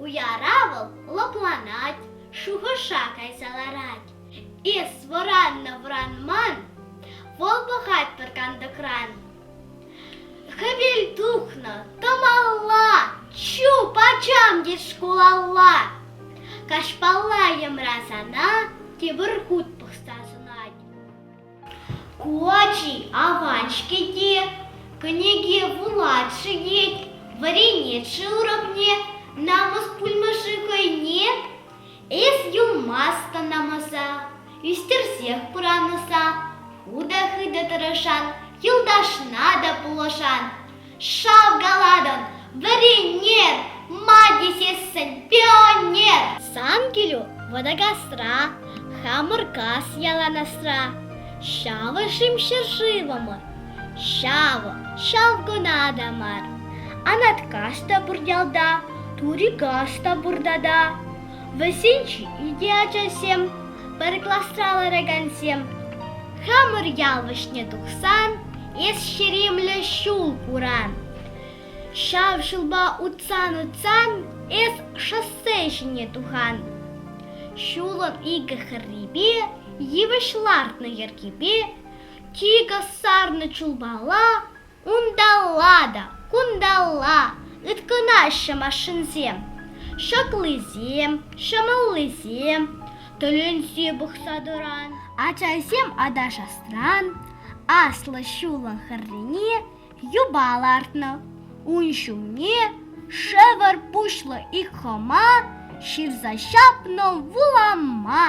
Уяра вӑл лӑпланать, шухӑша кайса ларать. Эс вӑраннӑ вӑранман, вӑл пӑхать пӗр кантӑкран. Хӗвел тухнӑ, тӑмалла, чуп ачам тет шкулалла. Каҫпалла йӑмра сана, тепӗр хут пӑхса сӑнать. Ку ачи аван-ҫке те, кӗнеке вулать-ши тет, вӗренет-ши уравне, намӑс пулмӗ-ши хӑйне? Эс юлмасть намӑса, ӳстерсех пыранӑса, хытӑ-хытӑ тӑрӑшан, юлташна та пулӑшан. Шалкалатӑн, вӗренер, ма тесессӗн пионер. Сан килӳ Вӑтакасра, Хамӑркас яланасра. Ҫавӑ-шим ҫӗршывӑмӑр, ҫавӑ ҫалкуна та мар. Анаткаш та пур ялта, Турикаш та пурта та. Вӗсенче икӗ ачасем, пӗр класра ларакансем. Хамӑр ял вӗҫне тухсан эс ҫеремлӗ ҫул куран. Ҫав ҫулпа утсан-утсан эс шоссе ҫине тухан. Ҫулӑм икӗ хӗррипе йывӑҫ лартнӑ йӗркепе тикӗс сарнӑ чулпала Унталла та кунталла ыткӑнаҫҫӗ машинсем. Ҫаклисем, ҫӑмӑллисем тӗлӗнсе пӑхса тӑран. Ачасем аташасран аслӑ ҫулӑн хӗррине юпа лартнӑ. Ун ҫумне шӗвӗр пуҫлӑ ик хӑма ҫырса ҫапнӑ вулама.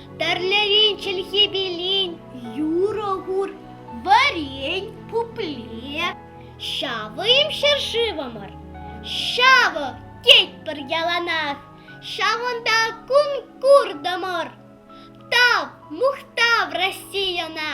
Тӗрлӗрен чӗлхе пелин юрӑ хур варен пупле ҫавӑм ҫӗршывӑмӑр. Ҫавӑ тетпӗр яланах, ҫавӑнта конкурсдӑмӑр. Тав, мухтав Российӑна!